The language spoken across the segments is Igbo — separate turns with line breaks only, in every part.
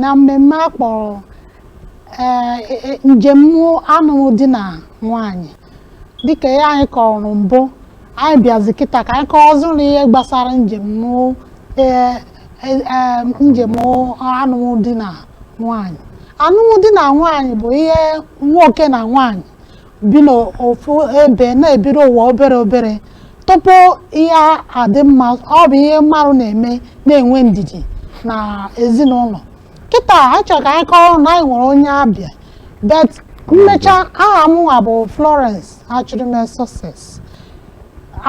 na mmemme a kpọrọ ee, e- e- njem anụmdi na nwaanyị dịka ihe anyị kọrọ mbụ anyị bịazi kịta ka anyị kọọ ọzọ na ihe gbasara njem ee, e- e- njem anụmdi na nwaanyị anụmdi na nwaanyị bụ ihe nwoke na nwaanyị bi n'ofu ebe na-ebiri ụwa obere obere tupu ihe adị mma ọ bụ ihe mmadụ na-eme na-enwe ndidi na ezinụlọ kịta anyị chọ ka anyị kọrọ na anyị nwere onye ọbịa but m mecha aha m nwa bụ Florence Achụrụme Success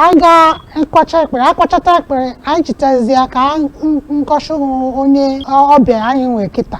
anyị ga-akwacha ekpere akwachata ekpere anyị chitazie ka m gosi onye ọbịa anyị nwee kịta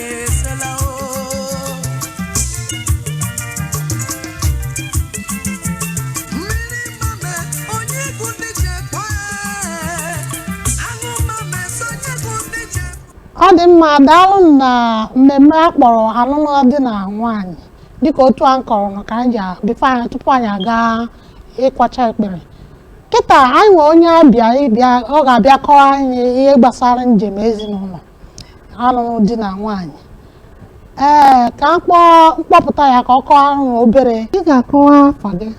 ọ dị mma daalụ nụ na mmemme a kpọrọ anụmdi na nwaanyị dịka otu a m kọrọ nọ ka anyị ji before anyị tupu anyị aga ịkwacha ekpere kịta anyị nwee onye ọbịa ọ ga-abịa kọọ anyị ihe gbasara njem ezinụlọ anụmdi na nwaanyị ee ka m kpọọ m kpọpụta ya ka ọ kọọ anyị obere ị ga-akọwa afa gị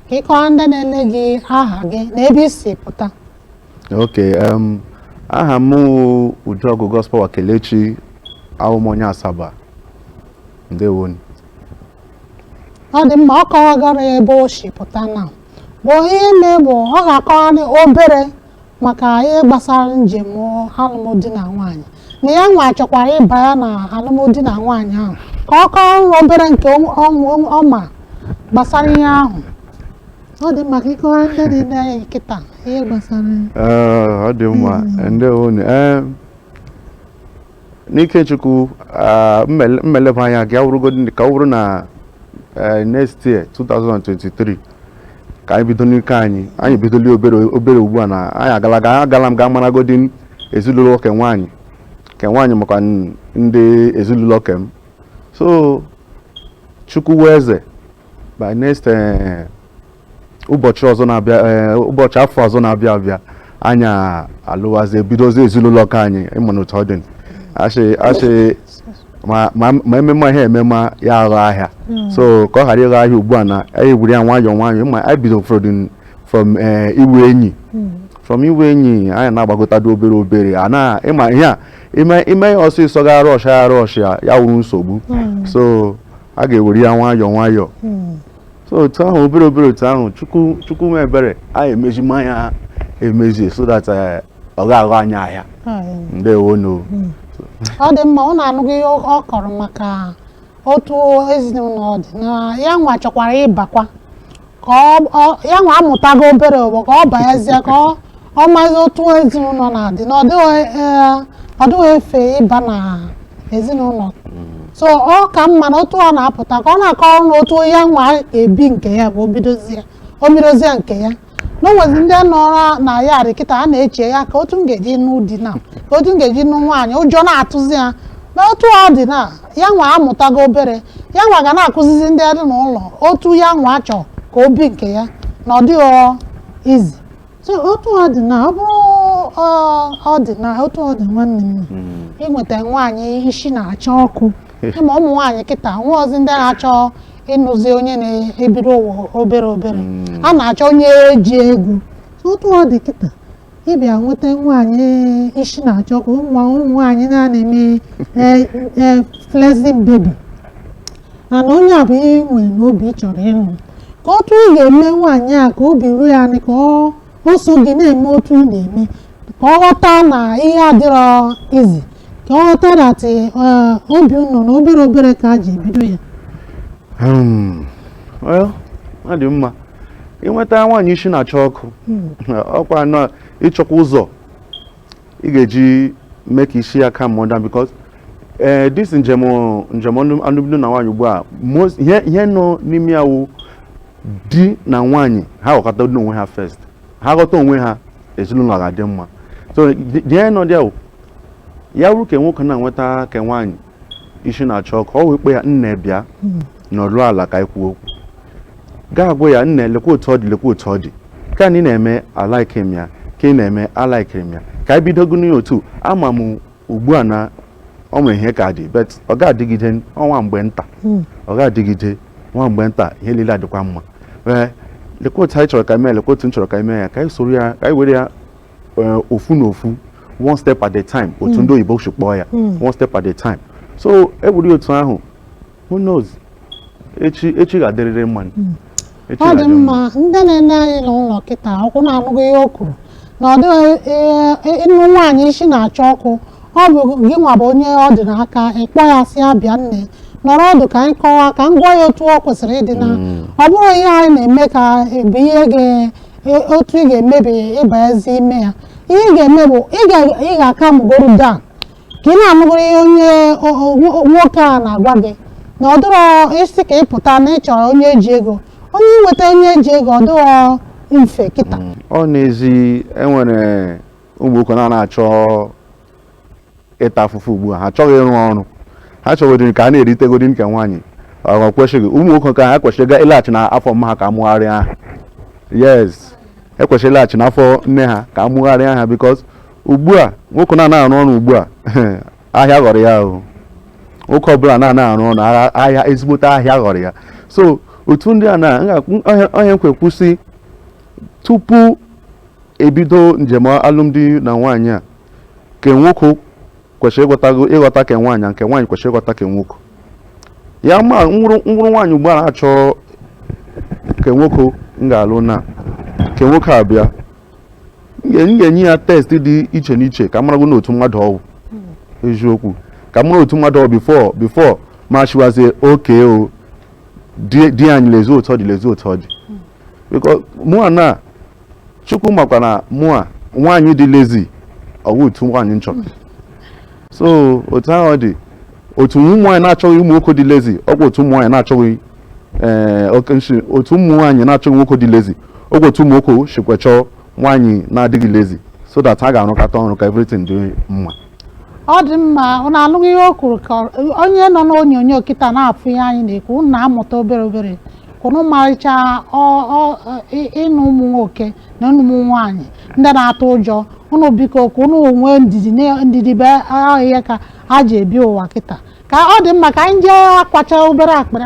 ka ị kọwa ndị na-ele gị aha gị na ebe i si pụta ok
um, aha m wụ Ujuọgụ Godspower Kelechi awụ m onye Asaba ndewo
nụ ọ dị mma ọ kọwagoro ya ebe o si pụta na ọ bụ onye Igbo ọ ga-akọwa obere maka ihe gbasara njem anụmdi na nwaanyị na ya nwa chọkwara ịba ya na anụmdi na nwaanyị ahụ ka ọ kọọ nwa obere nke ọ- ọ- ọ ma gbasara ihe ahụ ọ dị mma ka ị kọwa ndị niine kịta ihe gbasara Ee, ọ dị mma
ndewo unu Ee, n'ike Chukwu ah, mmele- mmeleba anya ga-awụrụgodị ka ọ bụrụ na eh, next year 2023 ka anyị bido nke anyị anyị bidola obere obere ugbu a na anyị agala ga anyị agala m ga maragodi ezinụlọ ke nwaanyị ke nwaanyị makwa n- ndị ezinụlọ ke m so Chukwu wụ eze by next eh, ụbọchị ọzọ na-abịa eh, ụbọchị afọ ọzọ na-abịa abịa anyị alụwazi ebidozi ezinụlọ ke anyị ị ma na otu ọ dị a sị a sị ma ememe ihe ememe ya agha ahịa hmm. so ka ọ ghara ịgha ahịa ugbu a na anyị were ya nwayọọ nwayọọ ma anyị bido ụfọdụ from eh, ịwụ enyi hmm. from ịwụ enyi anyị na-agbagotado obere obere a na ị ma ihe a i mee ya ọsịsọ ga rush ya rush ya ya wụrụ nsogbu hmm. so a ga-ewere ya nwayọọ nwayọọ so otu ahụ obere obere otu ahụ chukwu chukwu mee ebere anyị emezima ya emezi so that eh, ọ ga-aghọ anyị ahịa ndewo nụ hmm.
ọ dị mma unu anụgo ihe ọ kọrọ maka otu ezinụlọ dị na ya nwa chọkwara ịbakwa ka ya nwa amụtago obere ugbu a ka ọ banyezie ka ọ ọ mazi otu ezinụlọ na-adị na ọ dịghị ee, ọ dịghị efe ịba na ezinụlọ so ọ ka mma na otu ọ na-apụta ka ọ na-akọrọ na otu ya nwa ebi nke ya bụ o bidozie o bidozie nke ya na o nwezi ndị nọrọ na ya arị kịta a na-eche ya ka otu m ga-eji nụ di na ka otu m ga-eji nụ nwaanyị ụjọ na-atụzi ya na otu ọ dị na ya nwa amụtago obere ya nwa ga na-akụzizi ndị dị n'ụlọ otu ya nwa chọọ ka o bi nke ya na ọ dịghị easy so otu ọ dị na ọ bụrụ ọ dị na otu ọ dị nwanne m ịnweta hmm. nwaanyị isi na-acha ọkụ ịma ụmụ nwaanyị kịta nwa abụzi ndị na-achọ ịnụzi onye na-ebiri ụwa obere obere hmm. a na-achọ onye ji ego otu ọ dị kịta ịbịa nweta nwaanyị isi na-acha ọkụ ụmụ nwaanyị na-eme e, e, flexing baby mana onye a bụ ihe ị nwere n'obi ị chọrọ ịnụ ka otu ị ga-eme nwaanyị a ka obi ruo ya anị ka ọ o so gị na-eme otu ị na-eme ka ọ ghọta na ihe adịrọ easy ka ọ ghọta that obi unu na obere obere ka a ji ebido ya
Hmm. Well, ọ dị mma ịnweta nwaanyị isi na-acha ọkụ ọkwa na ịchọkwa ụzọ ị ga-eji mee ka isi ya calm down because ee this njem njem alụmdi na nwaanyị ugbu a most- ihe ihe nọ n'ime ya wụ di na nwaanyị ha ghọkọta n'onwe ha first ha ghọta onwe ha ezinụlọ ga-adị mma so the- the ihe nọ there wụ ya wụrụ ka nwoke na-enweta ka nwaanyị isi na-acha ọkụ ọ wee kpọọ ya nne bịa hmm. nọrụ ala ka anyị kwuo okwu ga-agwa ya nne lekwa otu ọ dị lekwa otu ọ dị ka anyị na-eme a like m ya ka ị na-eme a likiri m ya ka anyị bidogo n'otu ama m ugbu a na ọ nwere ihe ka dị but ọ ga-adịgide nwa mgbe nta hmm. ọ ga-adịgide nwa mgbe nta ihe niile adịkwa mma ee lekwa otu anyị chọrọ ka e mee lekwa otu m chọrọ ka e mee ya ka anyị soro ya ka anyị were ya eh, ofu na ofu one step at a time otu hmm. ndị oyibo si kpọọ ya hmm. one step at a time so e were ya otu ahụ who knows echi echi ga-adịrịrị mma hmm. ọ dị
mma ndị na-ele anyị n'ụlọ kịta ọkwa unu anụgo ihe o kwuru na ọ dịghị eh, eh, ịnụ nwaanyị isi na-acha ọkụ ọ bụ gị nwa bụ onye ọ dị n'aka ịkpọ ya sị ya bịa nne nọrọ ọdụ ka anyị kọwaa ka m gwa ya otu ọ kwesịrị ịdị na ọ bụrụ ihe anyị na-eme ka bụ ihe ga otu ị ga-emebe ịbazi ime ya ihe ị ga-eme bụ ị ga-acalmụgoro down ka ị na-anụgoro ihe onye nwoke a na-agwa gị na ọ dịrọ easy ka ị pụta na ị chọrọ onye ji ego onye inweta onye ji ego ọ dịrọ mfe kịta mm. ọ n'ezi
enwere ụmụ nwoke na-achọ ịta afụfụ ugbu a ha achọghị ịrụ ọrụ ha chọgodiri ka a na-eritegodi nke nwaanyị ọ kwesịghị ụmụ nwoke ka ha kwesịrị ga ịlaghachi n'afọ mma ha ka a mụgharịa ha yes ekwesịrị ịlaghachi n'afọ nne ha ka a mụgharịa ha because ugbu a nwoke na-anaghị arụ ọrụ ugbu a ahịa ghọrọ ya ahụ nwoke ọbụla na-anaghị arụ ọrụ ahịa ezigbote ahịa ghọrọ ya so otu ndị a na onye nkwe kwụsị tupu ebido njem alụmdi na nwaanyị a ke nwoke kwesịrị ịghọta ịghọta ke nwaanyị nke nwaanyị kwesịrị ịghọta ke nwoke ya ma m wụrụ m wụrụ nwaanyị ugbu a na-achọ ke nwoke m ga-alụ na ke nwoke abịa m ga-enye ya test dị iche n'iche ka m marago n'otu mmadụ ọ wụ eziokwu ka m mara otu mmadụ ọ wụ before before m asịwazie okay o di anyị lezi otu ọ dị lezi otu ọ dị because mụa na chukwu makwa na mụa nwaanyị dị lazy ọ wụ otu nwaanyị m chọrọ so otu ahụ ọ dị otu ụmụ nwaanyị na-achọghị ụmụ nwoke dị lazy ọkwa otu ụmụ nwaanyị na-achọghị ee okay m shị otu ụmụ nwaanyị na-achọghị nwoke dị lazy ọkwa otu ụmụ nwoke sikwa achọ nwaanyị na-adịghị lazy so that ha ga-arụkọta ọrụ ka everything dị mma ọ
dị mma ụnụ anụgo ihe o kwuru ka ọ- onye nọ n'onyonyo kịta na-afụ ihe anyị na-ekwu ụnụ na-amụta obere obere ka ụnụ marịcha ọ- ọ- ị- ụnụ ụmụ nwoke na ụnụ ụmụ nwaanyị ndị na-atụ ụjọ ụnụ biko ka ụnụ nwee ndidi na- ndidi bụ ihe ka e ji ebi ụwa kịta ka ọ dị mma ka anyị jee akwacha obere akpịrị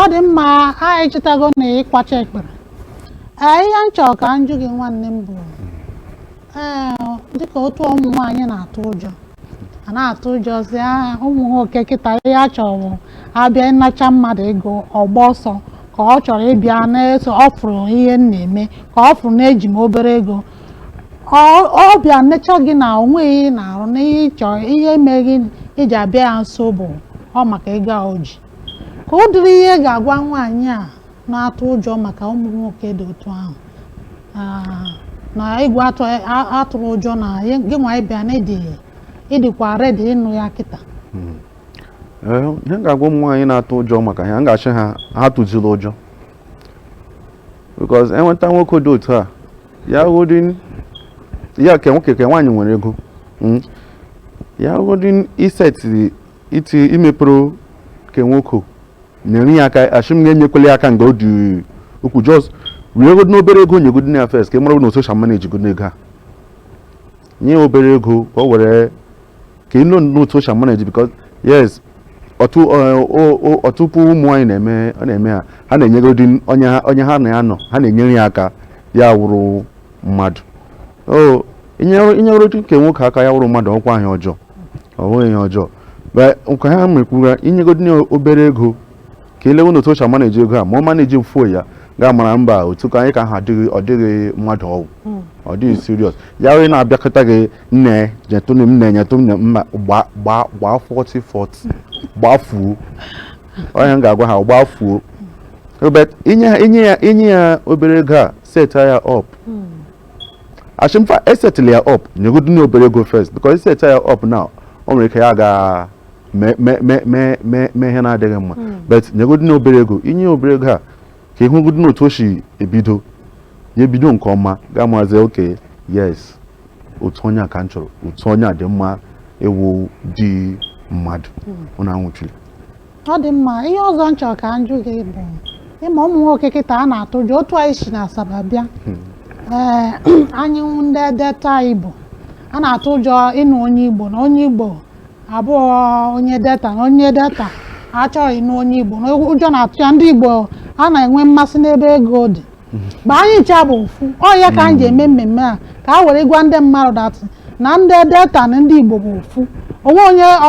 ọ dị mma anyị sitago na ịkwacha akpịrị ee ihe m chọrọ ka m jụ gị nwanne m bụ ee dịka otu ụmụ nwaanyị na-atụ ụjọ a na-atụ ụjọ sị "Ah, ụmụ nwoke kịta ihe ha chọrọ bụ a bịa ịnacha mmadụ ego ọ gbaa ọsọ ka ọ chọrọ ịbịa na-eso ọ fụrụ ihe m na-eme ka ọ fụrụ na eji m obere ego ka ọ- ọ bịa necha gị na o nwe ihe ị na-arụ na ihe ị chọ ihe mee gị iji abịa ya nso bụ ọ maka ego a o ji kee ụdịrị ihe ị ga-agwa nwaanyị a na-atụ ụjọ maka ụmụ nwoke dị otu ahụ Ah, na egwu atụ a- atụla ụjọ na ya- gị nwa ị bịa na ị dị ị dịkwa ready ịnụ ya kịta
Ee, ihe m ga-agwa ụmụ nwaanyị na-atụ ụjọ maka ya m ga-asị ha ha atụzila ụjọ because enweta nwoke dị otu a ya wụdị ya ke nwoke ke nwaanyị nwere ego mm. ya wụdị iseti iti imepụrụ ke nwoke nyere ya aka ashị m gị enyekwele ya aka mgbe ọ dị ukwu just weregodini obere ego nyegodini ya first ka ị mara na otu o shi amanage go n'ego a nye obere ego ka o were ka ị nọ n'otu o shi amanage because yes ọtụ ọ- ọ- ọ- ọtụtụ ụmụ nwaanyị na-eme ọ na-eme ha ha na-enyegodi onye ha onye ha na ya nọ ha na-enyere ya aka ya wụrụ mmadụ o inyere inyeregodi ke nwoke aka ya wụrụ mmadụ ọkwa ihe ọjọọ ọ bụghị ihe ọjọọ But nke ha mekwura inyegodi ya obere ego ka ilewe na otu o si amaneji ego a ma ọ manejifuo ya gị amara mba otu ka anyị ka ha adịghị ọ dịghị mmadụ ọ wụ hmm. ọ dịghị serious ya wee na-abịakọta gị nne nyetụ m nne nyetụ m mma gbaa 40 40 gbafuo onye m ga-agwa ha gbafuo inye ya obere ego a set ya up hmm. ashị m fa esetịla ya up nyegodu na obere ego first because i set ya up now o nwere ike ya ga mee ihe na-adịghị mma hmm. but nyegodi na obere ego inye obere ego a ka ịhụgodi na otu o si ebido ya ebido nke ọma gị amazie okay yes otu onye a ka m chọrọ otu onye a dị mma ọ wụdị mmadụ ụna hmm. nwụchiri ọ dị
mma ihe ọzọ m chọrọ ka m jụ gị bụ ị ma ụmụ nwoke kịtaa na-atụ ụjọ otu anyị si na Asaba bịa hmm. ee eh, anyị ndị Delta Igbo a na-atụ ụjọ ịnụ onye Igbo na onye Igbo abụọ onye delta na onye delta achọghị ịnụ onye igbo na ụjọ na-atụ ya ndị igbo a na-enwe mmasị n'ebe ego dị mba anyị ncha bụ ofu ọ ya ka anyị ji eme mmemme a ka a were gwa ndị mmadụ that na ndị delta na ndị igbo bụ ofu onwe onye ọ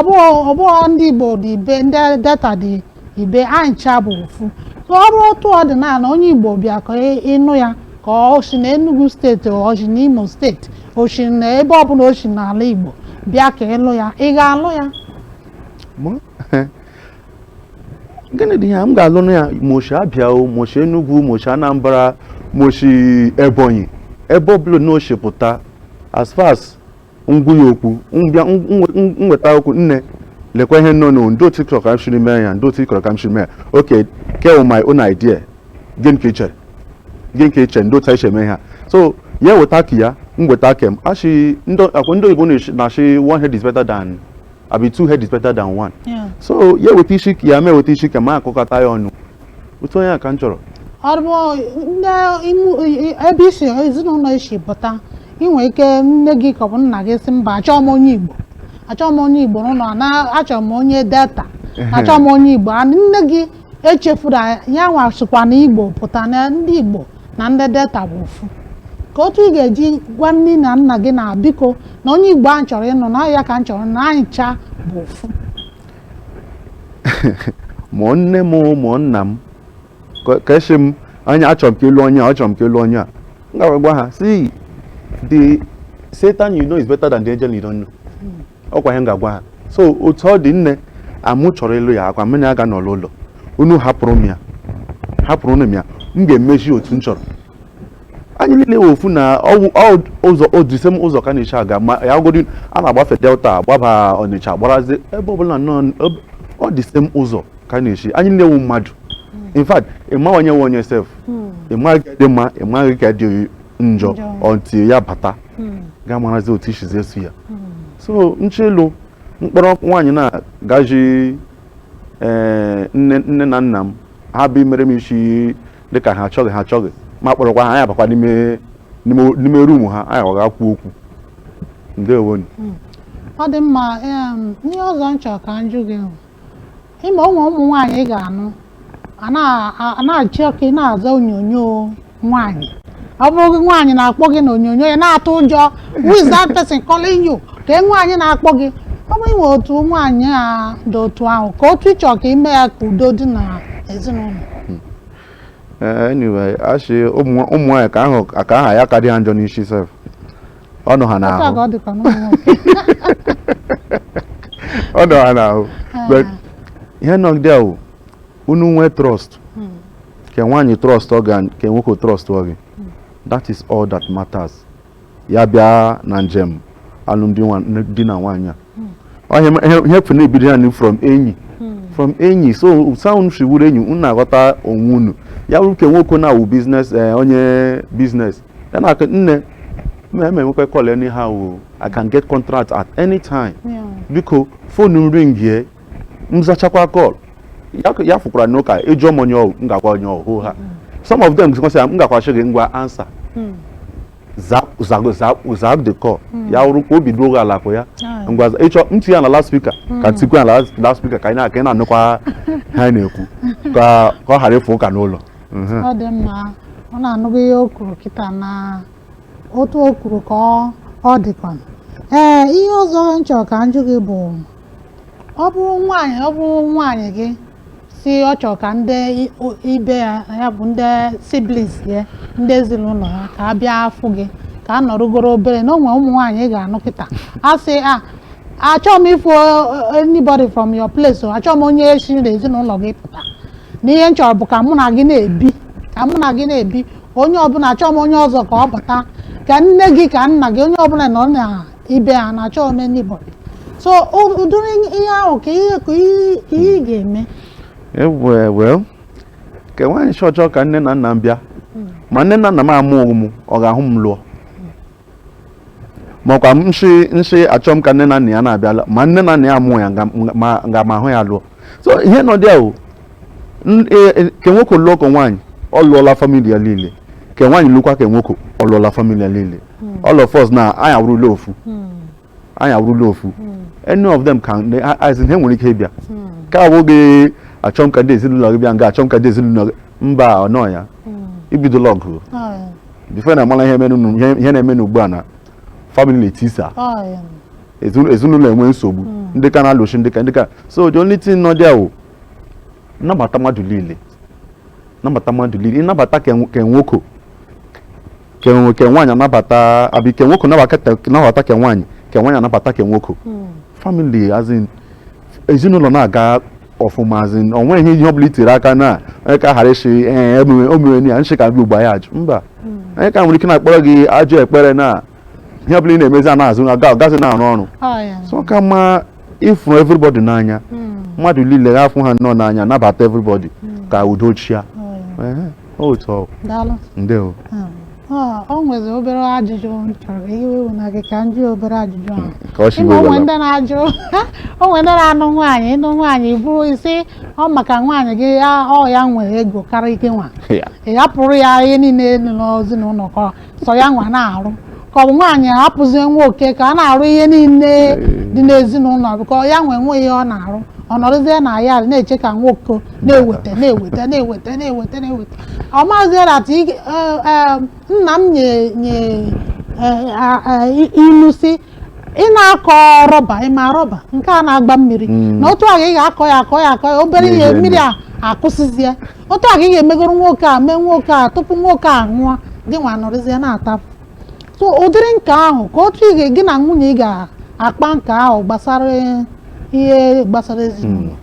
bụghị ndị igbo dị ibe ndị delta dị ibe anyị ncha bụ ofu ọ bụrụ otu ọ dị na onye igbo bịa ka ị- ịnụ ya ka o si na Enugu steeti o si na Imo steeti o si na ebe ọbụla o si n'ala igbo bịa ka ịlụ ya ị ga-alụ ya
Mụ? gịnị dị ya m ga-alụnụ ya ma o shi Abịa o ma o shi Enugu ma o shi Anambra ma o shi Ebonyi ebe ọbụla o shi pụta as far as m gwa ya okwu m bịa nweta okwu nne lekwa ihe nọnụ ndị otu ị chọrọ ka m siri mee ya ndị otu ị chọrọ ka m siri mee ya okay ke wụ my own idea gịnị ka ichere gịnị ka ichere ndị otu anyị si eme ha so ya weta ke ya m weta ke m ashị ndị ọkwa ndị oyibo na-ashị one head is better than abi two head is better than one so ya eweta isi ke ya mụ eweta isi ke m akụkọta ya ọnụ otu onye a ka m chọrọ
ebe isi ezinụlọ i si pụta inwe ike nne gị ka ọ bụ nna gị sị mba achọọ m onye Igbo achọọ m onye Igbo n'ụlọ achọọ m onye Delta achọọ m onye Igbo and nne gị echefuru anyị ya nwa sokwa na igbo pụta na ndị igbo na ndị delta bụ ofu ka otu ị ga-eji gwa nne na nna gị na biko na onye igbo ahụ chọrọ ịnụ na ọ ya ka m chọrọ na anyị cha bụ ofu
ma nne m ma nna m ka- ka esi m anya achọrọ m ka ị lụọ onye a achọrọ m ka ị lụọ onye a m ga-agwa ha sị the satan you know is better than the angel you don't know ọkwa ihe m ga-agwa ha so otu ọ dị nne amụ chọrọ ịlụ ya ọkwa mụ na ya ga-anọ n'ụlọ unu hapụrụ m ya hapụrụnụ m ya m ga-emechi otu m chọrọ anyị niile wụ ofu na ọwụ- ọ- ụzọ ọ the same ụzọ ka a na-eshi aga ma ya godi a na-agbafe delta gbaba ọnịcha gbarazi ebe ọbụla nọ n- ebe- ọ the same ụzọ ka a na-eshi anyị niile wụ mmadụ in fact ịmaghị onye wụ onye sef ịmaghị ke dị mma ịmaghị ke dị njọ Njọ. until ya bata hmm. ga-amarazi otu i sizi eso ya hmm. so nchelu m kpọrọ nwaanyị na-agaji eh, nne nne na nna m ha bịa meere m isi dịka ha achọghị ha achọghị m akpọrọkwa ha anyị abakwa n'ime ruumu ha anyị aga kwuo okwu ndewonụ
hmm. ọ dị mma ihe ọzọ m chọrọ ka m jụ gị ị ma ụmụ ụmụ nwaanyị ị ga-anụ a na- a- a na-achọ ka ị na-aza onyonyo nwaanyị ọ bụrụ gị nwaanyị na-akpọ gị na onyonyo ya na-atụ ụjọ who is that person calling you kee nwaanyị na-akpọ gị ọ bụ i nwee otu nwaanyị a dị otu ahụ ka otu ị chọrọ ka i mee ya ka udo dị na ezinụlọ Eh,
anyway a shị ụmụ ụmụ nwaanyị ka ahụ ka ha ya ka dị ha njọ n'isi sef ọ nọ ha n'ahụ ọ nọ ha n'ahụ but ihe nọ there wụ unu nwee trust hmm. ke nwaanyị trust ọ gị ke nwoke trust ọ gị hmm. that is all that matters ya bịa na njem alụmdi na nwaanyị a ihe fụ na-ebido ya from enyi from enyi so so unu si wụrụ enyi unu na-aghọta onwe unu ya bụrụ ke nwoke na-awụ business eh, onye business ya na nne m na-enwekwa call anyhow I can get contract at any time biko phone m ringie m zachaakwa call ya fụkwara n'ụka ị jụọ m onye ọ wụ m ga-agwa onye ọ wụ ha some of them sef m gakwa shị gị ngwa answer hmm. zaa the call hmm. ya wụrụ ka obi duo gị ala kwa ya ngwa ị chọọ m tie ya na loud speaker hmm. ka m tikwa ya na loud speaker ka ị na-anụkwa ihe anyị na-ekwu ka ọ ghara ịfụ ụka n'ụlọ mhm. ọ dị
mma unu anụgo ihe o kwuru kịta na otu o kwuru ka ọ dịkwa ee ihe ọzọ m chọrọ ka m jụ gị bụ ọ bụrụ nwaanyị ọ bụrụ nwaanyị gị si ọ chọrọ ka ndị i- o- ibe ya ya bụ ndị siblings ya ndị ezinụlọ ha ka a bịa afụ gị ka a nọrụgoro obere na o nwe ụmụ nwaanyị ị ga-anụ kịta a sị achọghị m ịfụ eh, anybody from your place o achọghị m onye si n'ezinụlọ gị pụta na ihe m chọrọ bụ ka mụ na gị na-ebi ka mụ na gị na-ebi onye ọbụla achọghị m onye ọzọ ka ọ bata ka nne gị ka nna gị onye ọbụla nọ na ibe ha na achọghị m anybody so o- ụdịrị ihe ahụ ka ihe ka ihe ka ihe ị ga-eme
well ke nwaanyị sị ọ chọ ka nne na nna m bịa ma nne na nna m amụghị m ọ ga-ahụ m lụọ makwa m nsị nsị achọ m ka nne na nna ya na-abịala ma nne na nna ya amụghị ya nga- nga- ma- nga ma ahụ ya lụọ so ihe nọ there wụ n- e- e- ke nwoke lụọ ke nwaanyị ọ lụọla famili ya niile ke nwaanyị lụkwa ke nwoke ọ lụọla famili ya niile hmm. all of us na anyị awụrụla ofu hmm. anyị awụrụla ofu hmm. any of them can as in ha nwere ike ịbịa ka awụghị achọ m ka ndị ezinụlọ gị bịa nga achọ m ka ndị ezinụlọ gị mba ọ nọ ya i bidola ọgụ before na amala ihe na-emenụ ugbu a na family na-etisa ezinụlọ enwee nsogbu ndị ka na-alụshi ndị ka ndị ka so the only thing nọ there wụ nnabata mmadụ niile nnabata mmadụ niile ịnabata ke nwoke ke nwo- ke nwaanyị anabata abi ke nwoke nabata ke- nabata ke nwaanyị ke nwaanyị anabata ke nwoke family as in ezinụlọ na-aga ọfụma as in o nwe ihe ihe ọbụla i tiri aka na onye ka ghara ịsị ee emume omume ya nshị ka bịa ugbo anyị ajụ mba onye ka nwere ike na-akpọrọ gị ajọ ekpere na ihe ọbụla ị na-emezi ana azụ na agazị na-arụ ọrụ Ọ ya. so ọ ka mma ịfụrụ everybody n'anya mmadụ niile ha afụ ha nnọọ n'anya nabata everybody ka udo chịa Ehe, otu ọ daalụ ndewo Ah,
ọ nwezi obere ajụjụ m chọrọ iwe iwu na gị ka m jụọ obere ajụjụ ahụ ka ọ si Ịma wee onwe wela ndị na-ajụ o nwe ndị na-anụ nwaanyị ị nụ nwaanyị bụrụ ị sị ọ maka nwaanyị gị ya- ọ ya nwere ego karịa ike nwa ya ị hapụrụ ya ihe niile nọ n'ezinụlọ ka sọ ya nwa na-arụ ka ọ bụ nwaanyị hapụzie nwoke ka a na-arụ ihe niile dị n'ezinụlọ bụ ka ya nwa nwe ihe ọ na-arụ ọ nọrọzie na ya na-eche ka nwoke na-eweta na-eweta na-eweta na-eweta na-eweta ọ mazie na that ị- eh, eh, nna m nye nye eh, ah, eh, i- ilu sị ị na-akọ rọba ị ma rọba nke a na-agba mmiri Mm. na otu a ka ị ga-akọ ya akọ ya akọ ya obere ihe mmiri a akwụsịzie otu a ka ị ga-emegoro nwoke a mee nwoke a tupu nwoke a nwụọ gị nwa nọrịzie na-atapụ so ụdịrị nke ahụ ka otu ị ga- gị na nwunye ị ga-akpa nke ahụ gbasara ihe gbasara ezinụlọ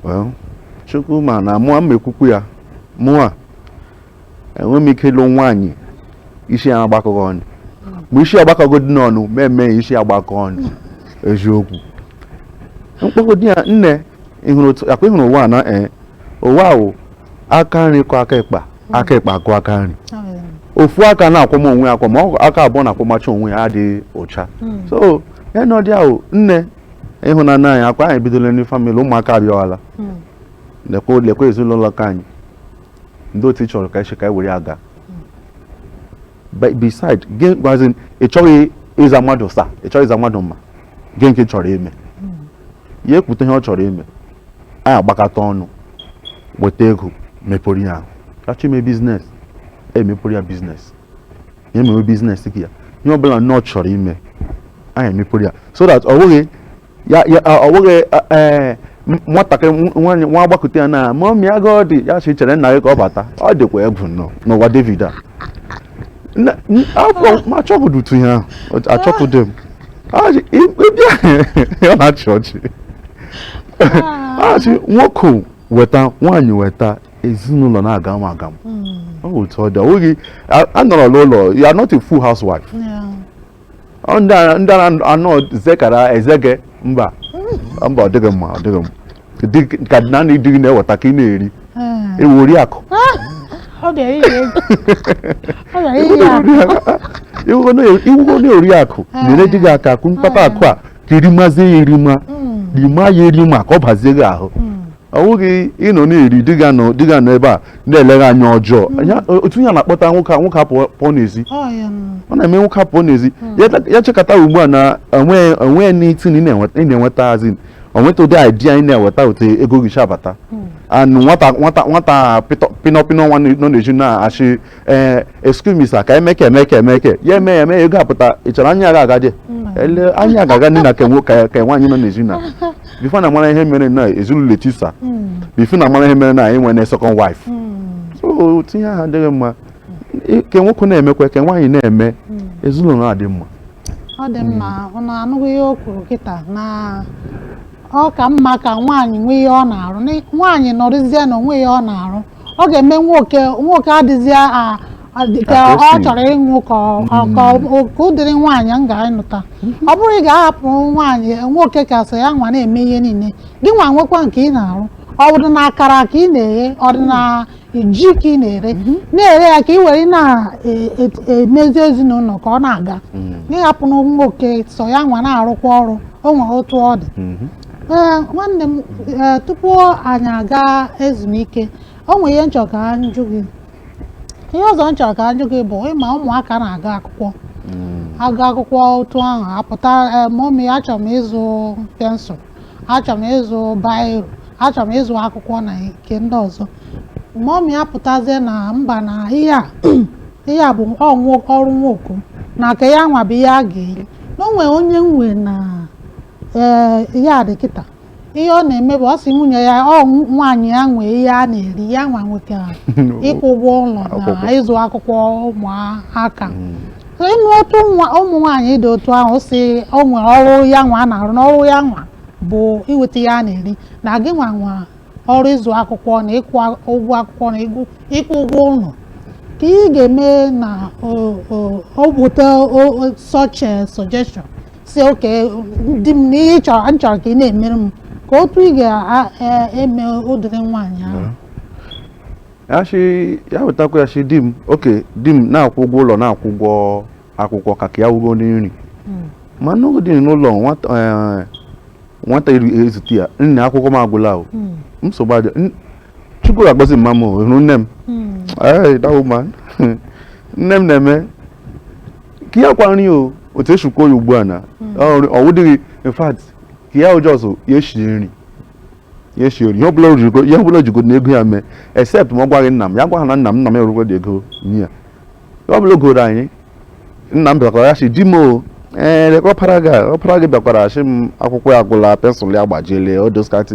well
chukwu ma na mụwa m ekwukwu ya mụwa enwe m ike ịlụ nwaanyị isi ya agbakọghị ọnụ ma isi agbakọgodi n'ọnụ m eme isi ya agbakọ ọnụ eziokwu m kpọgodi ya nne ọ kwa ị hụrụ ụwa na eh, ụwa wụ aka nri kwọọ aka ịkpa aka ịkpa akwọọ aka nri ofu aka na-akwọm onwe ya ma aka abụọ na-akwọmacha onwe ya adị ụcha hmm. so ịnọdụ ahụ nne ịhụnanya anyị ọ kwa anyị ebidolanụ famịlị ụmụaka abịawala hmm. lekwa ezinụlọ ka anyị ndị otu ị chọrọ ka esi ka anyị were aga beside gị gwazi ị chọghị ịza mmadụ sir ị chọghị ịza mmadụ ma gị nke chọrọ ime ya ekwute ihe ọ chọrọ ime anyị agbakọta ọnụ weta ego mepụrụ ya ọ chọọ ime biznes emepụrụ ya biznes ya emewe biznes nke ya ihe ọbụla nnọọ chọrọ ime anyị emepụrụ ya so that ọ bụghị ya ya ọ bụghị ee nwatakịrị nwaanyị nwa agbakute ya na mọmị agụụ dị ya si chere nna gị ka ọ bata ọ dịkwa egwu nnọọ n'ụwa david a Na- n- afọ ma achọgụdụtu ihe ahụ ọ- achọpụdị m Ọ sị, "Ị- ị bịa ọ na-achị ọchị a sị nwoke weta nwaanyị weta ezinụlọ na-aga m aga m ọ bụ otu ọ dị ọ bụghị a- anọrọ n'ụlọ you are not a full housewife ndị anọ zekara ezege mba mba ọ dịghị mma ọ dịghị mma ka na na ị dịghị na-eweta ka ị na-eri ị wụ ah. oriakụ ị wụgo na oriakụ ah. nyere di gị aka kụ mkpata ah. akụ a ka erima ya erima rima ya erima ka ọ bazie gị ahụ hmm. ọ bụghị ịnọ na-eri di gị anọ di gị anọ ebe a na-ele gị anya ọjọọ otu ihe a na-akpata nwoke a nwoke a pụọ pụọ n'ezi ọ na-eme nwoke a pụọ n'ezi ya ta- ya chekata ugbu a na o nwe o nwe anything ị na-enweta ị na-enweta as in onweta ụdị idea ị na-eweta otu ego gị si abata and nwata nwata nwata pịtọ- pịnọ pịnọ nwa nọ n'ezi na-asị ee eh, excuse me sir ka emeke emeke emeke ya eme ya eme ya ego apụta ị chọrọ anya aga aga dị ele anya aga aga ndị na kenwo ka ka nwaanyị nọ n'ezi na before na mara ihe mere na ezinụlọ etisa hmm. before na mara ihe mere na anyị nwere second wife hmm. so ụdị ihe a adịghị mma ka nwoke na-emekwa ka nwaanyị na-eme hmm. ezinụlọ adị mma ọ dị
mma ọ na-anụghị ihe o kwuru kịta na ọ ka mma ka nwaanyị nwee ihe ọ na-arụ nwaanyị nọrọzie na o nwe ihe ọ na-arụ ọ ga-eme nwoke nwoke adịzi a- a- dị ka Ka o ọ si. chọrọ ịnwụ ka ọ- ka ọ- ka ụdịrị nwaanyị m ga-anụta ọ bụrọ ị ga-ahapụ nwaanyị nwoke ka sọ ya nwa na-eme ihe niile gị nwa nwekwa nke ị na-arụ ọ dị na akara ka ị na-eghe ọ dị na ji ka ị na-ere na-ere ya ka ị were na-emezi ezinụlọ ka ọ na-aga ị hapụ na nwoke sọ ya nwa na-arụkwa ọrụ o nwere otu ọ dị Mhm. Ee, nwanne m ee, tupu anyị aga ezumike o nwere ihe m chọ ka m jụ gị ihe ọzọ m chọ ka m jụ gị bụ ị ma ụmụaka na-aga akwụkwọ aga akwụkwọ otu ahụ apụta ee, mọmi achọrọ m ịzụ pensụl achọrọ m ịzụ bairo achọrọ m ịzụ akwụkwọ na nke ndị ọzọ mọmi apụtazie na mba na ihe a ihe a bụ ọrụ nwoke na nke ya nwa bụ ihe a ga-eri na o nwere onye nwe na ee ihe a dị kịta ihe ọ na-eme bụ ọ sị nwunye ya ọ nwaanyị ya nwee ihe a na-eri ya nwa nwee ịkwụ ụgwọ ụlọ na Akwụkwọ. ịzụ akwụkwọ ụmụaka So, ị ma otu nwa ụmụ nwaanyị dị otu ahụ sị o nwere ọrụ ya nwa a na-arụ na ọrụ ya nwa bụ iweta ihe a na-eri na gị nwa nwe ọrụ ịzụ akwụkwọ na ịkwụ a- ụgwọ akwụkwọ na ịgụ- ịkwụ ụgwọ ụlọ ka ị ga-eme na o- o- o bute o- o- such a suggestion sị okay di m na ihe ị chọrọ m chọrọ ka ị na-emere m kee otu ị ga-eme ụdịrị nwaanyị ahụ ya shi ya
wetakwa ya shi di m okay di m na-akwụ ụgwọ ụlọ na-akwụ ụgwọ akwụkwọ ka nke ya wụ ịgo nri ma n'oge dị n'ụlọ nwata eh, nwata ezute ya nne akwụkwọ m agwụla o nsogbu adị Chukwu ga-agọzi mma m o, ị hụrụ nne m Hey, that woman. nne m na-eme nke ya kwa nri o otu e si kwuo ya ugbu a na hmm. ọ wụdịghị in fact nke ya wụ just ya esi nri ya esi ori ihe ọbụla o jigo na ego ya mee except ma ọ gwaghị nna m ya gwaghị na nna m nna m erukwa dị ego nye ya ọ bụla goro anyị nna m bịakwara ya sị di m o ee ọpara gị bịakwara shị m akwụkwọ ya agwụla pensụl ya gbajiele odoskati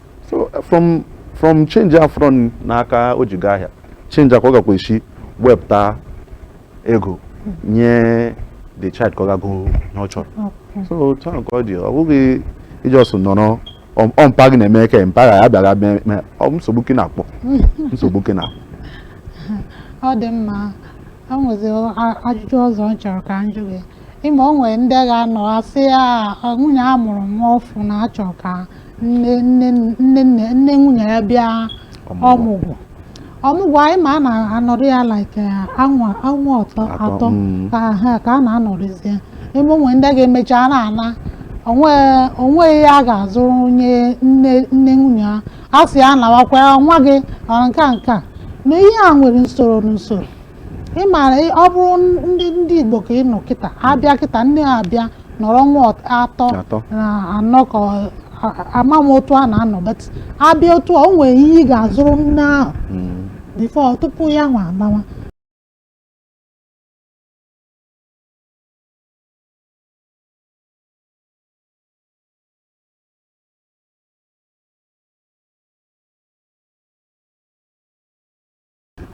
so from from change a fọrọ n'aka o ji gaa ahịa change a ka ọ gakwa esi wepụta ego nye the child ka ọ ga go ihe ọ chọrọ so otu ahụ ka ọ dị ọ bụghị ị just nọrọ ọ- ọ mpa gị na-eme ka mpa ya bịara mee mee ọ bụ nsogbu ka ị na-akpọ nsogbu ka ị
na-akpọ ọ dị mma o nwezi a- ajụjụ ọzọ m chọrọ ka m jụ gị ị ma o nwere ndị ga-anọ asị ya nwunye ya mụrụ nwa ọfụ na a chọrọ ka nne nne nne nne nne nwunye ya bịa ọmụgwọ ọmụgwọ anyị ma a na-anọrị ya like ọnwa ọnwa atọ Atọ, atọ mm. ka ha ka a na-anọrịzie ị ma o nwe ndị ga-emecha a na-ana o nwe- o nweghị ihe a ga-azụrụ onye nne nne nwunye ha a sị ya nawakwa ya nwa gị ọ nke a nke a na ihe a nwere usoro n'usoro ị maara ị- ọ bụrụ ndị ndị igbo ka ị nọ kịta abịa kịta nne ha abịa nọrọ ọnwa ọt- atọ Atọ. na anọ ka ọ- a- a- ama m otu a na-anọ but abịa otu a o nwere ihe ị ga-azụrụ nne ahụ Mm. before tupu ya nwa alawa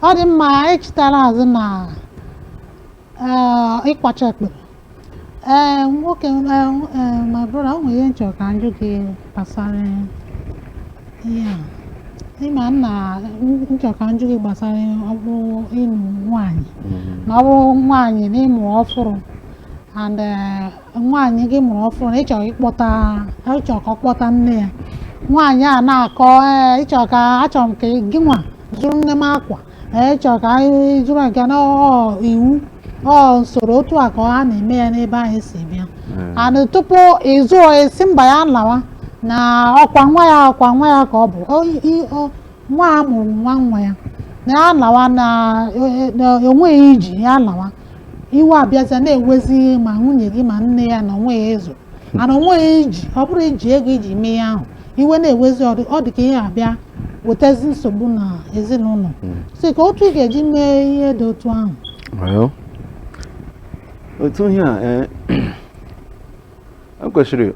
ọ dị mma anyị chịtara azụ na eh, ịkwacha ekpere ee nwoke eh, eh, my brother o nwere ihe m chọrọ ka njụ gị gbasara ihe a ị ma na m chọrọ ka njụ gị gbasara ọ bụ ịnụ nwaanyị na ọ bụrụ nwaanyị na ịmụ ọfụrụ and eh, nwaanyị gị mụrụ ọfụrụ na ịchọrọ ịkpọta ịchọrọ ka ọ kpọta nne ya nwaanyị a na-akọ ee ịchọrọ ka achọrọ m ka gị nwa zụrụ nne m akwa ee ịchọrọ ka anyị zụrụ nke na ọ iwu ọ usoro otu a ka a na-eme ya n'ebe anyị si bịa and tupu ị zụọ ị sị mba ya lawa na ọkwa nwa ya ọkwa nwa ya ka ọ bụ O- i- o- nwa a mụrụ nwa nwa ya na ya lawa na e- e- na enweghị iji ya lawa iwe abịaza na-ewezi ma nwunye gị ma nne ya na onweghị ihe a zụ and onweghị ihe iji ọ bụrụ iji ego iji mee ihe ahụ iwe na-ewezi ọ dị- ọ dị ka ihe abịa wetazi nsogbu na ezinụlọ so kee otu ị ga-eji mee ihe dị otu ahụ
Well, otu ihe a eh, ekwesịrị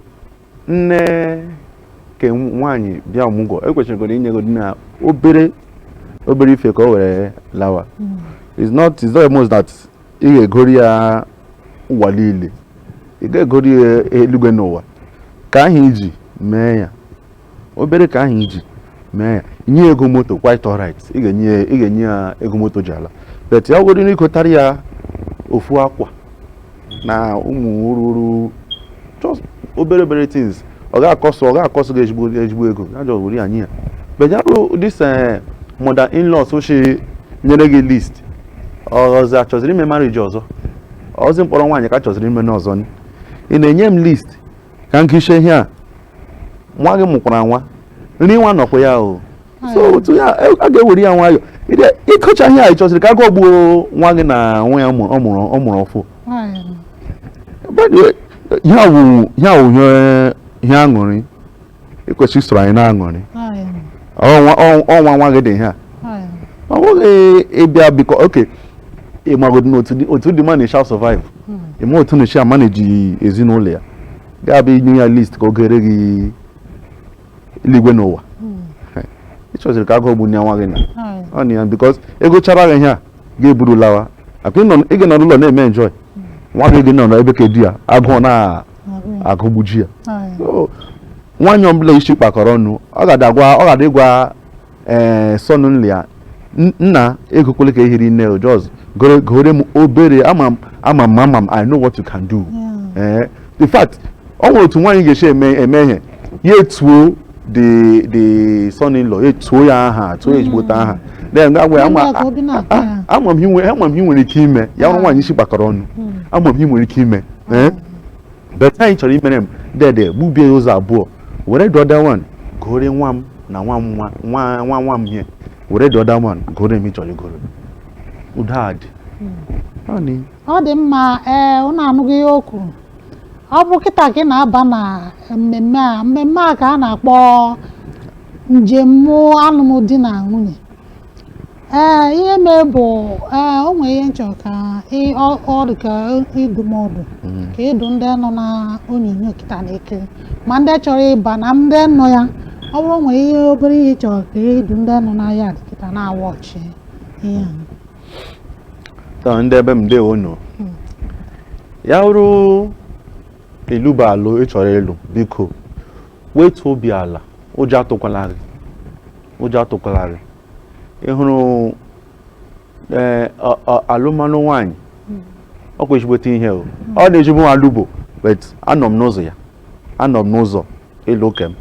nne ke nwaanyị bịa ọmụgwọ ekwesịrịgodi inyegodi na obere obere ife ka o were lawa hmm. it's not it's not a must that ị ga-egori ya ụwa niile ị ga-egori ya eluigwe na ụwa ka ahụ iji mee ya obere ka ahụ iji mee ya nye ego moto quite alright ị ga-enye ya ego moto ji ala but ya wụrụ n'igotara ya ofu akwa na ụmụ ruru just obere obere things ọ ga-acost ọ ga-acost gị ezigbo ezigbo ego ya jọ were ya nye ya but ya bụrụ this eh, mother in law so she nyere gị list ọzọ achọziri ime marriage ọzọ ọzi ịkpọrọ nwaanyị ka achọziri ime n'ọzọ ị na-enye m list ka m kiche ihe a nwa gị mụkwara nwa nri nwa nọkwa ya o so hmm. otu ya a ga-ewere ya nwayọ ịkọcha ihe a ịchọziri ka agụụ gbuo nwa gị na nwa ya ọ mụrụ ọfụ ihe a wụ ihe aṅụrị ekwesịrị isoro anyị na-aṅụrị ọ nwa nwa gị dị ihe a ọ bụghị ịbịa biko okay ịmagodị otu the man na-eshi survive hmm. ịma otu ọ na-eshi amanage ezinụlọ ya ga-abịa inye ya list ka o gore gị eluigwe na ụwa hmm. ị chọziri ka agụụ gbuo nwa gị na hmm. ọ na ya because e gochara gị ihe a ga-eburu lawa akwa ị ga-anọ n'ụlọ na-eme enjoy hmm. nwa gị gị nọ n'ebe ke di ya agụụ na-agụgbuji ya nwaanyị ọbụla isi kpakọrọ ọnụ ọ ga-adị ịgwa ee son in law ya nna egokwele ke hiri nne just gore m obere ama m ama m ama m I know what you can do ee eh, in fact ọ nwere otu nwaanyị ga-esi eme eme ihe ya etuo the the son in law etuo ya aha tuo ezigbote aha then ga gwa ama ama m ihe i nwere ike ime ya wụrụ nwaanyị isi kpakọrọ ọnụ ama m ihe i nwere ike ime ee eh? but ihe a ị chọrọ imere m dede gbubie ya ụzọ abụọ were the other one gore nwa m na nwa m nwa nwa nwa m ihe were the other one gore m ị chọrọ igoro udo adị hmm.
ọ dị mma ee ụnụ anụghị ihe o kwuru ọ bụ kịta ka ị na-aba na mmemme a mmemme a ka a na-akpọ njem alụmdi na nwunye ee ihe mee bụ ee o nwere ihe m chọ ka ị- ọ ọ dị ka ndụmọdụ ka ị dụ ndị nọ na onyonyo kịta na-ekiri ma ndị chọrọ ịba na ndị nọ ya ọ bụrụ o nwere ihe obere ihe ị chọrọ ka ị dụ ndị nọ na ya dị kịta na-awatch ihe a.
taa ndị ebe m ndewo nụ ya wụrụ ị lụba alụ ị chọrọ ịlụ biko wetu obi ala ụjọ atụkwala gị ụjọ atụkwala gị ị hụrụ eh, alụmalụ nwaanyị hmm. ọ kwa ezigbote ihe o hmm. ọ n'ezi mụwa alụbo but anọ m n'ụzọ ya anọ m n'ụzọ ịlụ ke m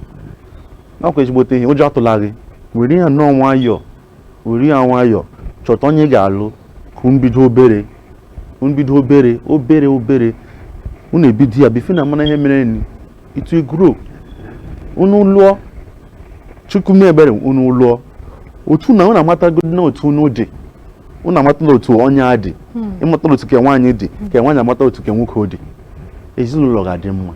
ọ kwa ezigbote ihe ụjọ atụla gị were ya nnọọ nwayọọ were ya nwayọọ chọta onye ị ga-alụ ka unu bido obere unu bido obere obere obere unu ebido ya before unu amana ihe mere nị it will grow unu lụọ Chukwu mee ebere unu lụọ otu na unu amatagodi na otu unu dị unu amatala otu onye a dị hmm. ị matala otu ke nwaanyị dị hmm. ke nwaanyị amata otu ke nwoke dị ezinụlọ ga-adị mma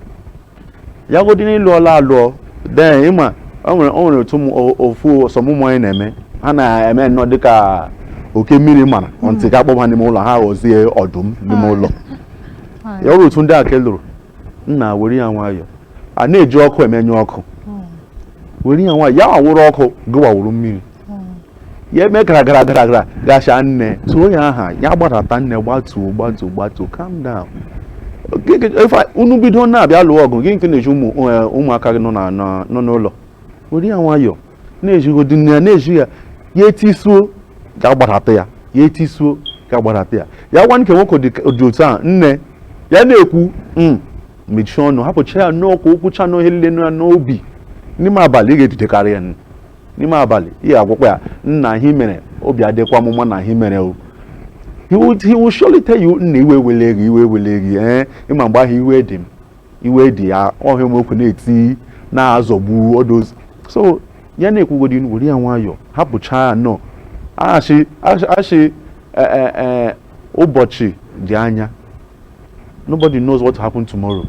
ya godi na ị lụọla alụ then ị ma o nwere otu ụfọ some ụmụ nwaanyị na-eme ha na-eme nnọọ dịka oke mmiri mara hmm. until ka a kpọba n'ime ụlọ ha ghọzie ọdụm n'ime ụlọ ya wụrụ otu ndị a ka ị lụrụ nna were ya nwayọọ a na-eji ọkụ emenyụ ọkụ hmm. were ya nwayọọ ya awụrụ ọkụ gịwa awụrụ mmiri hmm. ya eme gara gara gara gara gacha nne tuo ya aha ya gbadata nne gbatuo gbatuo gbatuo calm down unu bido na-abịa lụọ ọgụ gịnị ka ị na-ezi ụmụaka gị nọ n'ụlọ were ya nwayọọ na-ejigodị nne ya na-eji ya ya etisuo ọ ga-agbadata ya etisuo ọ ga-agbadata ya ya gwa nke nwoke dị otu a nne ya na-ekwu hmm, mechie ọnụ hapụcha ya n'ọkụ o kwuchaa ihe nile na n'obi n'ime abalị ị ga-edidekarị ya n'ime abalị ị ga-agwakwa ya nna ihe i mere obi adịkwa m mma na ihe i mere o he will surely tell you nne iwe ewele gị iwe ewele gị ee eh, ị ma mgbe ahụ iwe dị m iwe dị ya ọhịa ụmụokwu na-eti na-azọgbu odozi so ya na-ekwugodi were ya nwayọọ hapụcha ya na echi echi e, e, e, ụbọchị dị anya nobody knows what happen tomorrow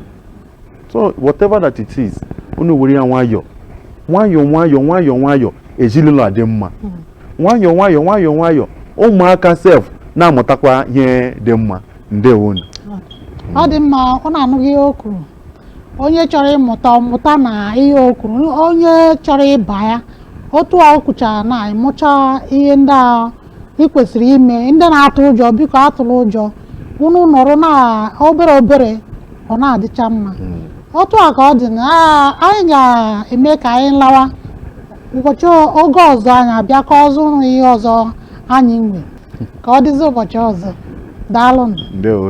so whatever that it is unu were ya nwayọọ nwayọọ nwayọọ nwayọọ nwayọọ ezinụlọ adị mma hmm. nwayọọ nwayọọ nwayọọ nwayọọ ụmụaka sef na-amụtakwa ihe dị mma ndewonu
ọ dị mma unu anụgo ihe o kwuru onye chọrọ ịmụta ọ mụta na ihe o kwuru onye chọrọ ịba ya otu a o kwuchara na ịmụcha ihe ndị a ị kwesịrị ime ndị na-atụ ụjọ biko atụla ụjọ unu nụrụ na obere obere ọ na-adịcha mma otu a ka ọ dị na a- anyị ga-eme ka anyị lawa ụbọchị oge ọzọ anyị abịakwa ọzọ nụrụ ihe ọzọ anyị nwe ka ọ dịzi ụbọchị ọzọ daalụ ndewo